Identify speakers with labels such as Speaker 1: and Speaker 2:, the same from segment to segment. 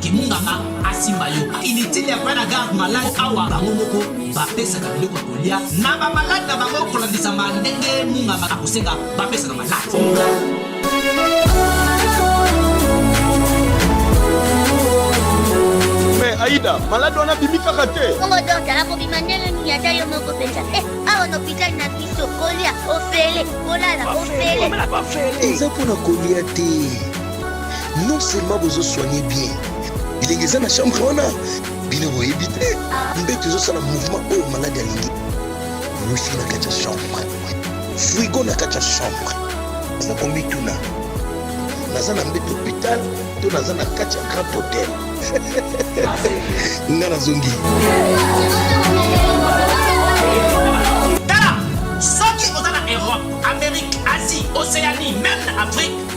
Speaker 1: kimunganga asimba yo inutile ya koya na garde malade awa bango moko bapesaka biloko ya kolia na bamalade na bango kolandisama ndenge munganga akosenga bapesaka malade
Speaker 2: mais aida malade wana abimi kaka te bongo dokta akobima
Speaker 3: ndenge nini ata yo moko mpenza e awa na hopitali na biso kolia ofele kolala ofele eza mpo na
Speaker 4: kolia te non seulement bozo soigne bien bilenge eza na chambre wana bino boyebi te mbeto ezosala mouvement oyo maladi alingi wifi na kati ya chambre frigo na kati ya chambre aza komituna naza na mbeto hopital to naza na kati ya grand hotel nga nazongi
Speaker 1: tala soki oza na europe amérique asie océanie meme na afrique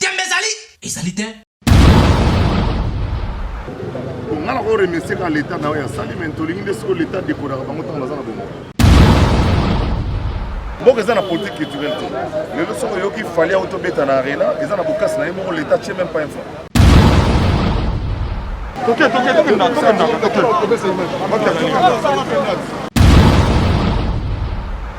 Speaker 1: Tembe ezali.
Speaker 5: Ezali te. Nga na ko remercier ka l'etat na oyo asali mais tolingi nde siko l'etat dekoraka bango ntango baza na bongo. mboka eza na politique culturelle te lelo soki oyoki fali auto beta na arena eza na bokasi na ye moko l'etat tie même pas info toke toke tokenda tokenda tokenda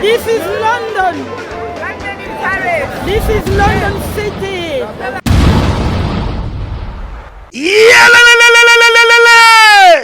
Speaker 6: This is
Speaker 1: London. London in Paris. This is London City.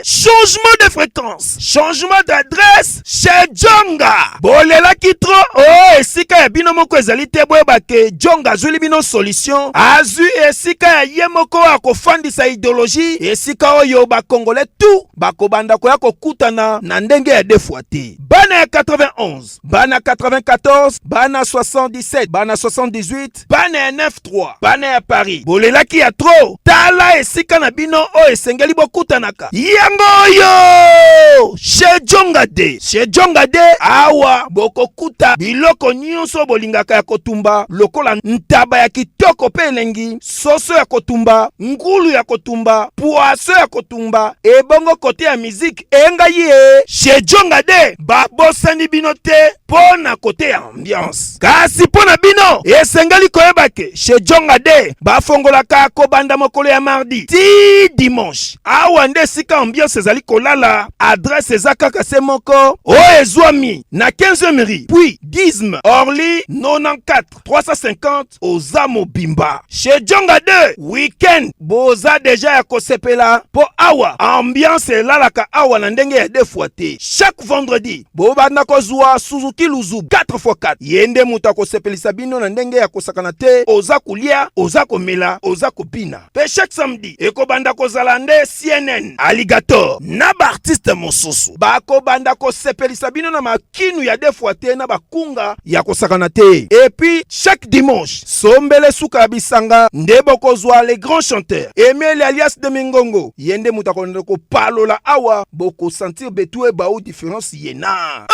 Speaker 1: Changement de fréquence, changement d'adresse chez Djonga. Bolelaki trop, oh esika ya bino moko ezali te boyeba ke Djonga azwili bino solution. Azwi esika ya ye moko akofandisa ideologie, esika oyo bakongole tout bakobanda koya kokutana na ndenge ya defwa te. Bana ya 91, bana 94, bana 77, bana 78, bana ya 93, bana ya Paris, bolelaki ya tro. Tala esika na bino oyo esengeli bokutanaka. Yango oyo chez Jonga de chez Jonga de, awa bokokuta biloko nyonso bolingaka ya kotumba lokola ntaba ya kitoko mpe elengi soso ya kotumba ngulu ya kotumba puaso ya kotumba ebongo kote ya miziki enga ye shejonga de babosani bino te mpo na kote ya ambiance kasi mpo na bino esengeli koyeba ke shejonga de bafongolaka kobanda mokolo ya mardi ti dimanche awa nde esika ambiance ezali kolala adrese eza kaka se moko oyo ezwami na 15 mri puis disme orly 94 350 oza mobimba chez Djonga 2 weekend boza deja ya kosepela po awa ambiance elalaka awa na ndenge ya defwa te chaque vendredi bobanda kozwa Suzuki Luzu 4x4 ye nde moto akosepelisa bino na ndenge ya kosakana te oza kolia oza komela oza kobina pe chaque samedi ekobanda kozala nde CNN Alligator na baartiste mosusu bakobanda kosepelisa bino na kinu ya deux fois te na bakunga ya kosakana te epuis chaque dimanche sombele suka ya bisanga nde bokozwa le grand chanteur emeli alias de mingongo ye nde moto akolanda kopalola awa bokosentir betue bao différence ye na ah,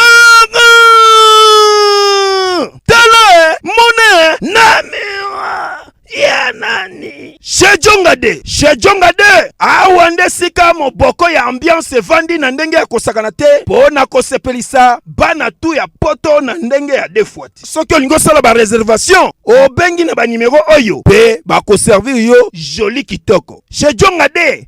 Speaker 1: ah! tala eh, mona eh, na mira ya nani shejonga de shejonga de awa nde sika moboko ya ambiance evandi na ndenge ya kosakana te mpo na kosepelisa bana tu ya poto na ndenge ya defuati soki olingi osala bareservation obengi na banimero oyo mpe bakoservir yo joli kitoko shejonga de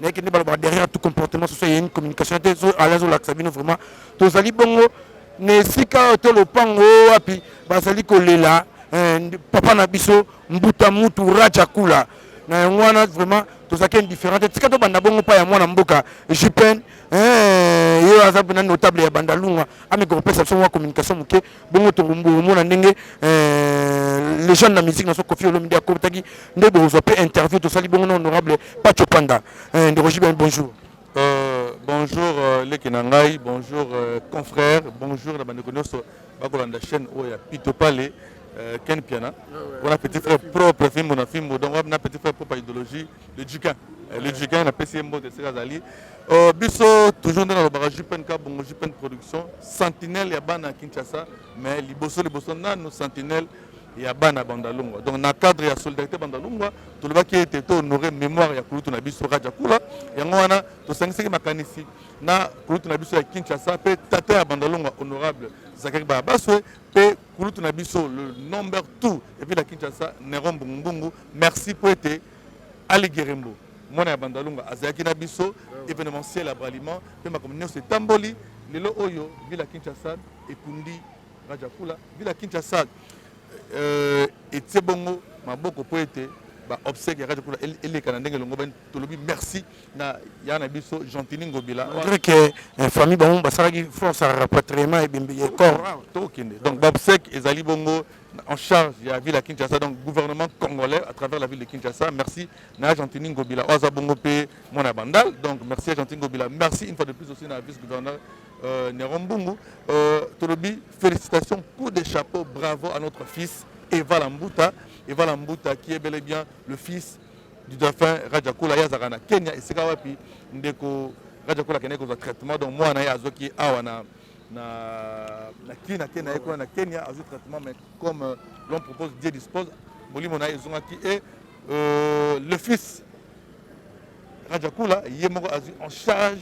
Speaker 7: naye kende baloba derrière tout comportement soso eye une communication te so ala ezolakisa bino vraiment tozali bongo na esika oyo to lopango oyo wapi bazali kolela eh, papa na biso mbuta mutu raja kula na yango wana vraiment tozalaki indifférent te tika tobanda bongo mpa ya mwana mboka jupene eh, ye aza mpena notable ya bandalunga ameka kopesa biso mwa communication moke bongo tokomona ndenge euh, legende na musique na so kofi olomide akotaki nde bokozwa mpe interview tosali bongo na honorable pacho panda euh, ndeko jiben bonjour Euh, bonjour
Speaker 8: euh, leki na ngai bonjour euh, confrère bonjour na bandeko nyonso bakolanda chaîne oyo ya pito pale euh, ken piana ah wana petit frère propre fimbo na fimbo donc wana petit frère propre idéologie Le Duquin. Eh, le Duquin, na PCM Mbote, esika azali. Euh, biso toujours nde nalobaka jupn kabongo jupn production sentinelle ya bana ya kinshasa mais liboso liboso nanu sentinelle ya bana bandalungwa donc na cadre ya solidarité bandalungwa tolobaki ete tohonore mémoire ya kulutu na biso raja kula yango wana tosangisaki makanisi na kulutu na biso ya kinshasa mpe tata ya bandalungwa honorable zakari baabaswe pe kulutu na biso le number tout epuis na kinshasa nero mbungumbungu merci mpo ete ali gerembo mwana ya bandalunga azalaki na biso événementiel ya braliment mpe makambo nyonso etamboli lelo oyo ville ya kinshasa ekundi rajakula ville ya kinshasa euh, etie bongo maboko mpo ete baobsèque ya rajakula eleka na ndenge elongobani tolobi merci na ya na biso gentini ngobila malgré que eh,
Speaker 7: famille bango basalaki force ya rapatriement ebembe ya corps ah, tokende donc babsec
Speaker 8: ezali bongo en charge ya ville ya kinshasa donc gouvernement congolais à travers la ville de kinshasa merci na ya gentini ngobila oyo aza bongo mpe mwana ya bandal donc merci ya gentini ngobila merci une fois de plus aussi na vice gouverneur euh, Néron Mbungu. Euh, Tolobi, félicitations, coup de chapeau, bravo à notre fils Eva Lambuta. Eva Lambuta qui est bel et bien le fils du dauphin Rajakula ye azalaka na Kenya esika wapi ndeko Rajakula akendaki kozwa traitement donc mwana ye azwaki awa na na na kin ake na ye kuna na Kenya azwi traitement mais comme euh, l'on propose Dieu dispose molimo na ye ezongaki et euh, le fils Rajakula ye moko azwi en charge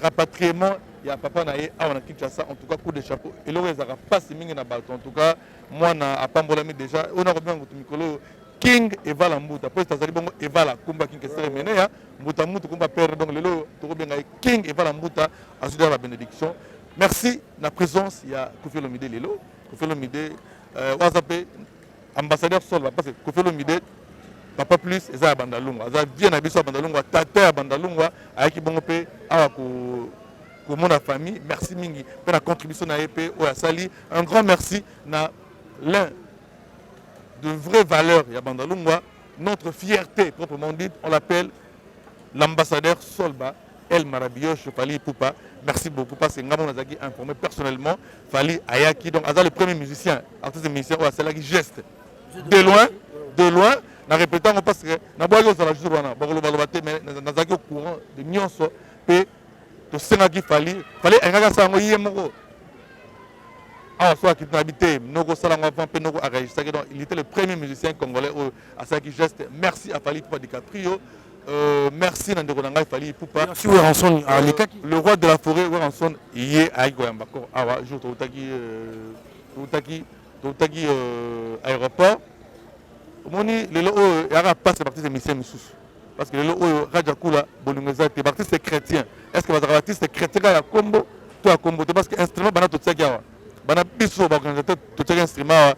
Speaker 8: rapatriement ya papa na ye awa na Kinshasa en tout cas coup de chapeau eloko ezalaka mpasi mingi na bato en tout cas mwana apambolami déjà oyo nakobenga kutu mikolo oyo king evala mbuta mpo ete azali bongo evala kumba king kesere meneya mbuta mutu kumba pere donc lelo oyo tokobenga ye king evala mbuta azwi deja babenediction merci na présence ya kofi olomide lelo kofi olomide euh, oyo aza mpe ambassadeur solva parce que kofi olomide papa plus eza ya bandalungwa aza vie na biso ya bandalungwa tata ya bandalungwa ayaki bongo mpe awa ko komona famille merci mingi mpe na contribution na ye mpe oyo asali un grand merci na l'un de vraies valeurs ya Bandalungwa, notre fierté proprement dite, on l'appelle l'ambassadeur Solba El Marabiyosh Fally Ipupa. Merci beaucoup parce que Ngamon Azaki informé personnellement Fally Ayaki. Donc Aza le premier musicien, artiste musicien, ou c'est là qui geste. De loin, de loin, na répétant parce que na boyo zala jour wana bakolo baloba te mais nazaki au courant de nyonso pe tosengaki fali fali alingaki asala yango ye moko awa so akiti na bite noko osala yango avant mpe noko aregistraki donc il était le premier musicien congolais oyo asalaki geste merci à fali pupa dicaprio Euh, merci na ndeko na ngai fali pupa merci weranson ah,
Speaker 7: euh, le roi de la
Speaker 8: forêt weranson ye ayaki koyamba kor awa jour toutaki euh, toutaki toutaki euh, aéroport omoni lelo oyo yaka pasi na baptise emission mosusu Parce que lelo oyo Raja Kula bolingo eza te. B'artiste c'est chrétien. Est-ce que bazaka b'artiste chrétien kaka ya kombo to ya kombo te parce que instrument bana totiaki awa. Bana biso ba organisateur totiaki instrument awa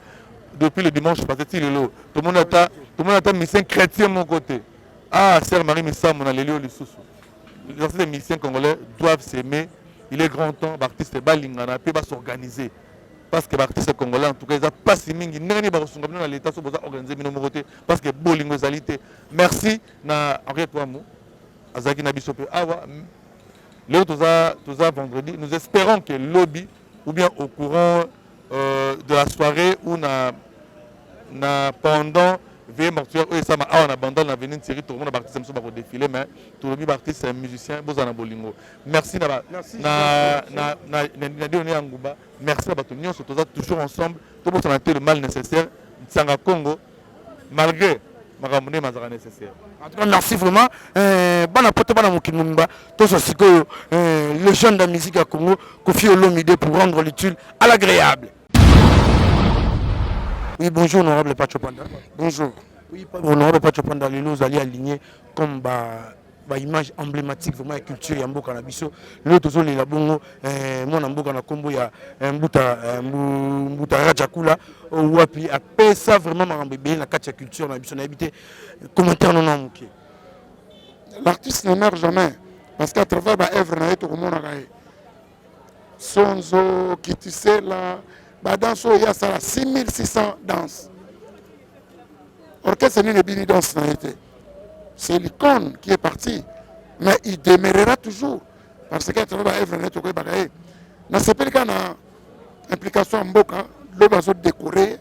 Speaker 8: depuis le dimanche passé ti lelo. Tomoni ata tomoni ata musicien chrétien moko te. Ah sœur Marie Misamu na lelio lisusu. Les artistes des musiciens congolais doivent s'aimer. Il est grand temps b'artiste balingana pe ba s'organiser. parce que baartiste congolais en tout cas eza mpasi mingi ndenge nini bakosunga bino na leta so boza organise bino moko te parce que bolingo ezali te Merci na Henri Kouamou azalaki na biso mpe awa leo toza, toza vendredi nous espérons que lobi ou bien au courant euh, de la soirée ou na, na pendant veye mortuaire oyo esama awa na bandal na veni nseri tokomona baartiste mosusu bakodefile mais tolobi baartiste ya musicien bozala na bolingo merci na dionene ya nguba merci na bato nyonso toza toujours ensemble tobosana te le mal nécessaire nsanga congo malgré makambo nde mazalaka nécessaire en tout cas merci
Speaker 7: vraiment euh, bana poto bana mokili mobimba tosa sikoyo euh, le jeune de la musique ya congo kofi olomide pour rendre l'utile à l'agréable oui bonjour honorable pacho panda bonjour oui honorable pacho panda lelo ozali aligné comme ba ba image emblématique vraiment ya culture ya mboka na biso lelo tozolela bongo eh, mwana mboka na nkombo ya eh, mbuta, eh, mbuta rajakula oh, wapi apesa vraiment makambo ebele na kati ya culture na biso nayebi te commentaire nono ya moke
Speaker 9: l'artiste ne meurt jamais parce qu'à travers baœuvre na ye tokomonaka ye Sonzo, Kitisela, ba danse oyo ye asala 6600 danse. Orchestre nini ebini danse na ye te. C'est l'icône qui est parti. Mais il demeurera toujours. Parce que atravers ba œuvre na ye tokoyebaka ye. Nasepeli kaka na implication ya mboka loba azo decorer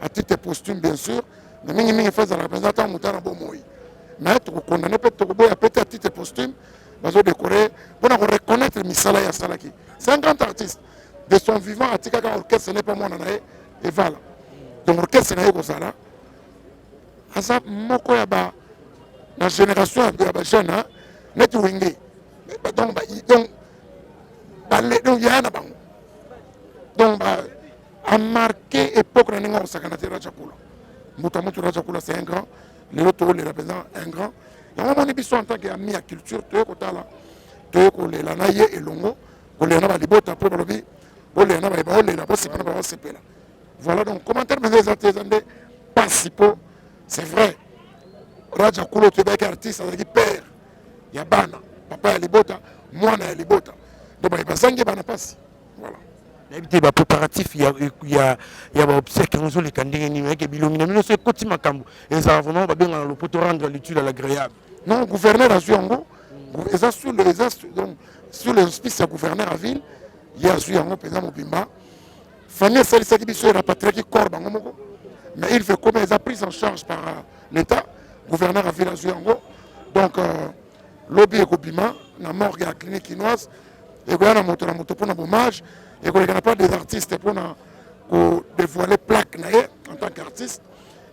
Speaker 9: à titre posthume bien sûr mais mingimingi fo ezalaka mpenza ntango moto na bomoi mais tokokondane mpe tokoboya mpe te à titre posthume bazodekore mpo na koreconnaitre misala ye asalaki 50 artistes de son vivant atikaka orchestre ne mpe mwana na ye evala donc orchestre na ye kozala aza moko ya ba na génération ya bajeune hein? neti wenge donc donc yaya na bango donc a marqué époque na ndenge akosakana te raja kula moto ya moto raja kula c'est un grand lelo toolela mpenza un grand yango omoni biso en tant que ami ya culture toye kotala toye kolela na ye elongo kolela na balibota mpo balobi bolela na baye baolela bosepela na baosepela voilà donc commentaire mpenza eza te eza nde mpasi mpo c'est vrai raja kula oto ebaki artiste azalaki père ya bana papa ya libota mwana ya libota donc baye bazangi bana mpasi nayebi te ba
Speaker 7: préparatif ya, ya, ya ba obsèque yango ezoleka ndenge nini oyeke bilongi na bino so ekoti makambo ezala vraiment babengana lopoto rendre l'utile à l'agréable non gouverneur
Speaker 9: azwi yango eza sur le eza donc sur les hospices ya gouverneur ya ville ye azwi yango mpenza mobimba famille esalisaki biso erapatriaki corps bango moko mais il fait comme eza prise en charge par euh, l'état gouverneur ya ville azwi yango donc euh, lobi ekobima na morgue ya clinique kinoise ekoya na moto na moto mpona bommage ekoleka na part des artistes mpona kodevoile plaque na ye en tant qu'artiste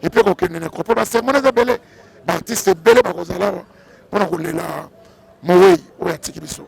Speaker 9: epuis kokende na cropo basermone eza ebele baartiste ebele bakozala awa mpona kolela mowei oyo atiki biso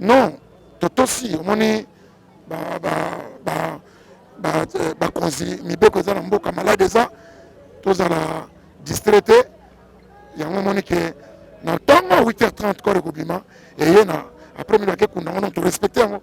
Speaker 9: non totosi omoni bakonzi eh, mibeko eza na mboka malade eza tozala distrait te yango omoni ke na ntongo 8h30 kore kobima eye na après milo ake kunda ngo non torespecte yango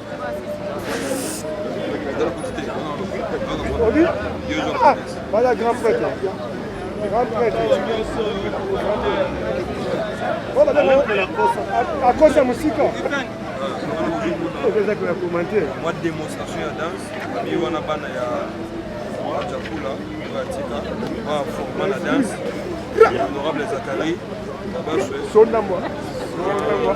Speaker 10: Voilà, grand prêtre. Grand prêtre. Voilà, là, là, à cause de musique. Eza
Speaker 2: kwa commenter. Moi démonstration ya danse, bi wana bana ya Wacha Kula, ya Tika, ba forma la danse. Honorable Zachary, Babaswe. Sonda
Speaker 10: moi. Sonda moi.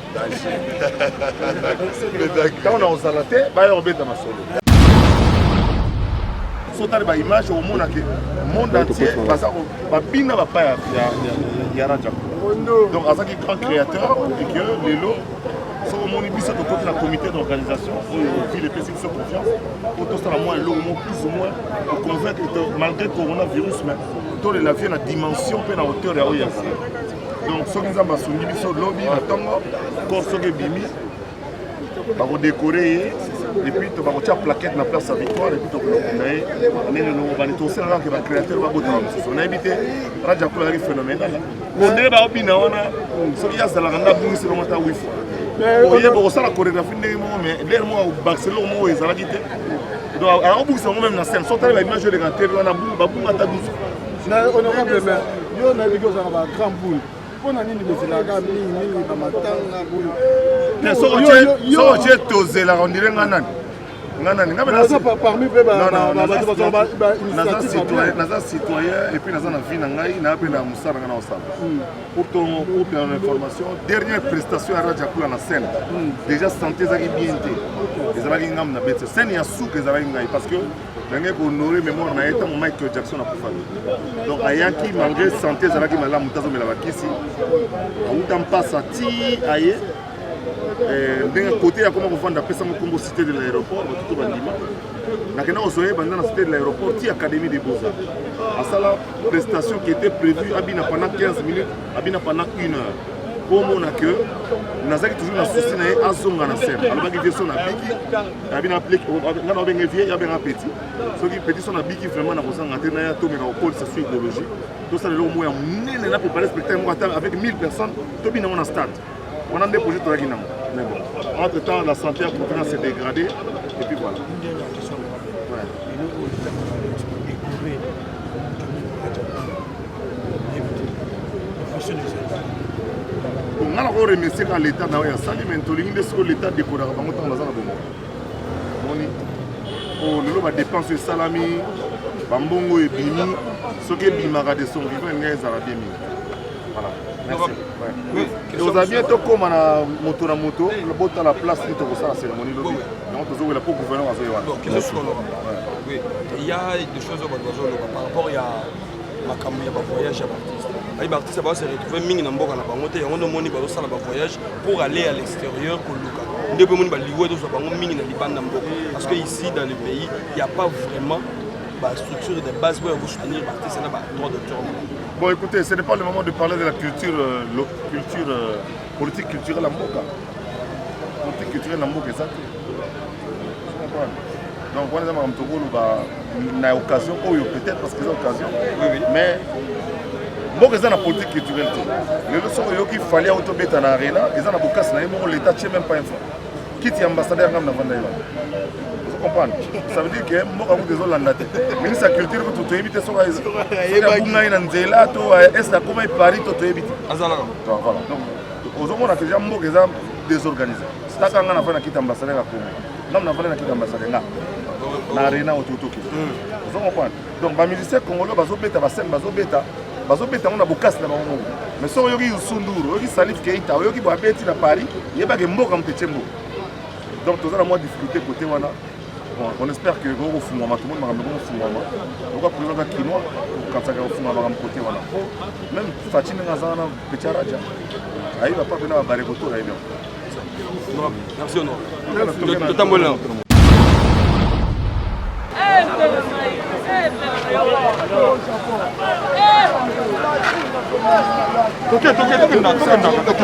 Speaker 5: ntango na kozala te baya kobeta masolo sotali baimage okomona ke monde entier baza babina bapa ya raja donc azalaki grand créateur et que lelo soki omoni biso tokoti na comité d'organisation oyo ville epesi biso confiance po tosala mwa eloko mo plus ou moins oconvaincre malgré coronavirus mais tolela vie na dimension mpe na hauteur ya oyo ya donc soki nzambe asungi biso lobi na ntongo kor soki ebimi bakodekore ye epuis bakotya plaquette na place ya victoire epuis tokolokunda ye ndenge nobani tosala kaka ke bacréateur babotama mosusu nayebi te raja kula azali phénoménal ondele baobina wana soki ye azalaka nde abungisi longo ata wifi oye bokosala chorégraphie ndenge moko mais lere moko akobakisa eloko moko ezalaki te donc akobungisa yango meme na scène so tala baimage oyo eleka te wana babunga ata dusu
Speaker 10: Mais honorable mais yo na biko za ba grand pool. Pona
Speaker 5: nini bozelaka mingi mingi ba matanga boyo. Mais so otie so otie tozela on dirait nga nani. Nga nani nga bana so
Speaker 10: parmi pe ba ba ba ba ba initiative.
Speaker 5: Naza citoyen et puis naza na vie na ngai na pe na musala nga na osala. Hmm. Pour ton pour ton information, dernière prestation ya Raja Kula na scène. Hmm. Déjà santé ezaki bien te. Ezalaki ngam na bete. Scène ya souka ezalaki ngai parce que nangai ko honore memoire na ye ntango michael jackson akufaki donc ayaki malgré santé ezalaki malamu te azomela bakisi awuta mpasa ti aye eh, ndenge kote ya koma kovanda apesama nkombo cité de l'aéroport bato to bandima nakenda kozwa ye banda na cité de l'aéroport ti académie de beaux asala prestation qui était prévue abina pendant 15 minutes abina pendant une heure mpo omona ke nazalaki toujours na susi na ye azonga na sere alobaki vie son abiki nabi na plek nga na obenge vie ya benga petit soki petit so nabiki vraiment na kozanga te na ya tomeka kokolisa su idéologie tosala eloko moko ya monene na prépare spectacle moko ata avec 1000 personnes tobina yango na stade wana nde projet toyaki nango mais bon entre temps la santé ya continent se dégradé et puis voilà nga nako remercie kaka leta na oyo ya sali me tolingi nde sikoyo leta dekodaka bango ntango baza na bongo moni po lelo badepense esalami bambongo ebimi soki ebimaka de son vivant elinga ezala bien mingi voilà ozala bien tokóma na moto na moto botala place nini tokosala cérémonie lobi yango tozowela mpo gouverneur azoye wana
Speaker 2: makambo ya ba voyage ya ba artiste ayi ba artiste ba se retrouver mingi na mboka na bango te yango nde omoni bazosala ba voyage pour aller à l'extérieur koluka nde mpe omoni baliwe tozwa bango mingi na libanda mboka parce que ici dans le pays il y a pas vraiment ba structure de base oyo ya kosoutenir ba artiste na ba droit d'auteur Bon, écoutez, ce
Speaker 5: n'est pas le moment de parler de la culture, euh, culture euh, politique culturelle à Moka. politique culturelle na mboka eza te donc wana eza makambo tokoloba na occasion oyo peut-être parce que eza occasion mais mboka eza na politique culturelle te lelo soki oyoki fali auto beta na arena eza na bokasi na ye moko l'état tie même pas info kiti ya ambassadeur ngai navanda ye wana comprendre ça veut dire que mboka kutu ezolanda te ministre ya culture kutu toyebi te soki abunga ye na nzela to est akoma ye paris to toyebi te donc voilà ozomona deja mboka eza désorganise sitaka nga nafai na kiti ambassadeur ya congo nanu nafai na kiti ambassadeur nga na arena ototoki hmm. ozo comprendre donc bamusicien congolais bazobeta basene bazobeta bazobeta yango na bokasi na bango moko mais soki oyoki yusunduru oyoki salif keita oyoki boabeti na paris yebake mboka moto etie mboka donc toza na mwa difficulté kote wana Bon, on espère que oko kofungwama tomoni makambo eko kofungwama oka président aza kinois okanisaka kofungwa makambo kote wana po meme faci ndenge aza wana petit araja ayeba pa pena babare kotora ye bien merci
Speaker 2: ono totambola nao toke toke tokenda tokenda toke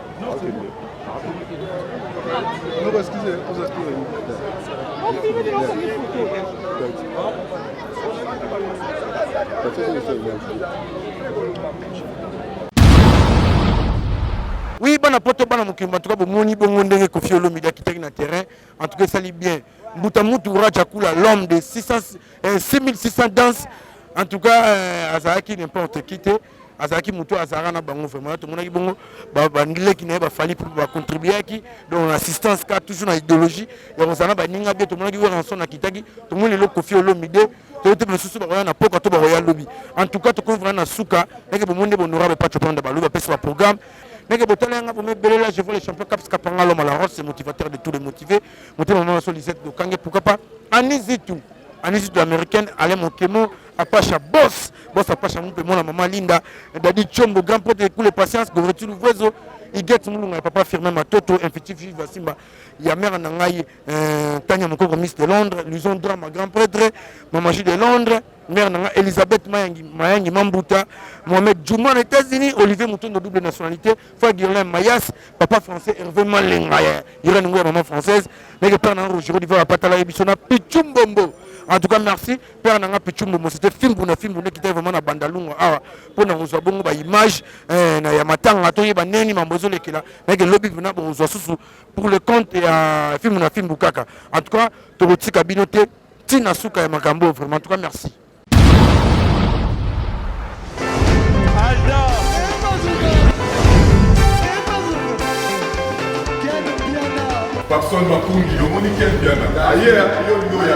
Speaker 5: Oui,
Speaker 7: bana poto bana mokili en tout cas bomoni bongo ndenge Koffi Olomide akitaki na terrain en tout cas esali bien mbuta mutu Raja Kula l'homme de 600 eh, 6600 danse en tout cas euh, azalaki n'importe qui te azalaki moto oyo azalaka na bango vraiment tomonaki bongo bandileki na ye bafali mpo bacontribuaki donc na assistance ka toujours na idéologie ya kozala na baninga bie tomonaki weranson akitaki tomoni lelo kofi olomide toyebi te basusu bakoya na poka to bakoya lobi en tout cas tokomi vraimen na suka ndenge bomoni nde bonorable pacho panda balobi bapesi baprogramme ndenge botala yanga bomebelela je vois le champion caps kapanga loma la roche motivateur de tous les motivés motema mama so lisette dokange pourquoi pas anizitu anizitu américaine alain mokemo Apasha boss, boss Apasha mpe mwana mama Linda, Daddy Chombo, grand pote ekule patience, Goreti Luvuezo, Iget Mulunga ya papa Firmin Matoto, Infiti Viva Simba, ya mère na ngai euh, Tanya Mokoko Miss de Londres, Luison Drama grand prêtre, Mama J de Londres, mère na ngai Elisabeth Mayangi, Mayangi Mambuta, Mohamed Juma na États-Unis, Olivier Mutondo double nationalité, Fagirlin Mayas, papa français Hervé Malenga ya Irène Ngoya maman française, meke père na ngai Roger Olivier Apatala Ebisona, Pichumbombo. En tout cas merci. père na nga pichumbo mosete fimbu na fimbu nekita vraiment na bandalungu awa mpo na kozwa bongo baimage eh, na ya matanga toyeba ndenge mambo ezolekela nayeke lobi mpena bokozwa susu pour le compte ya fimbu na fimbu kaka en tout cas tokotika bino te ntina suka ya makambo vraiment en tout cas merci
Speaker 11: Papson Makundi, omoni Ken Mpiana aye yo lingo ya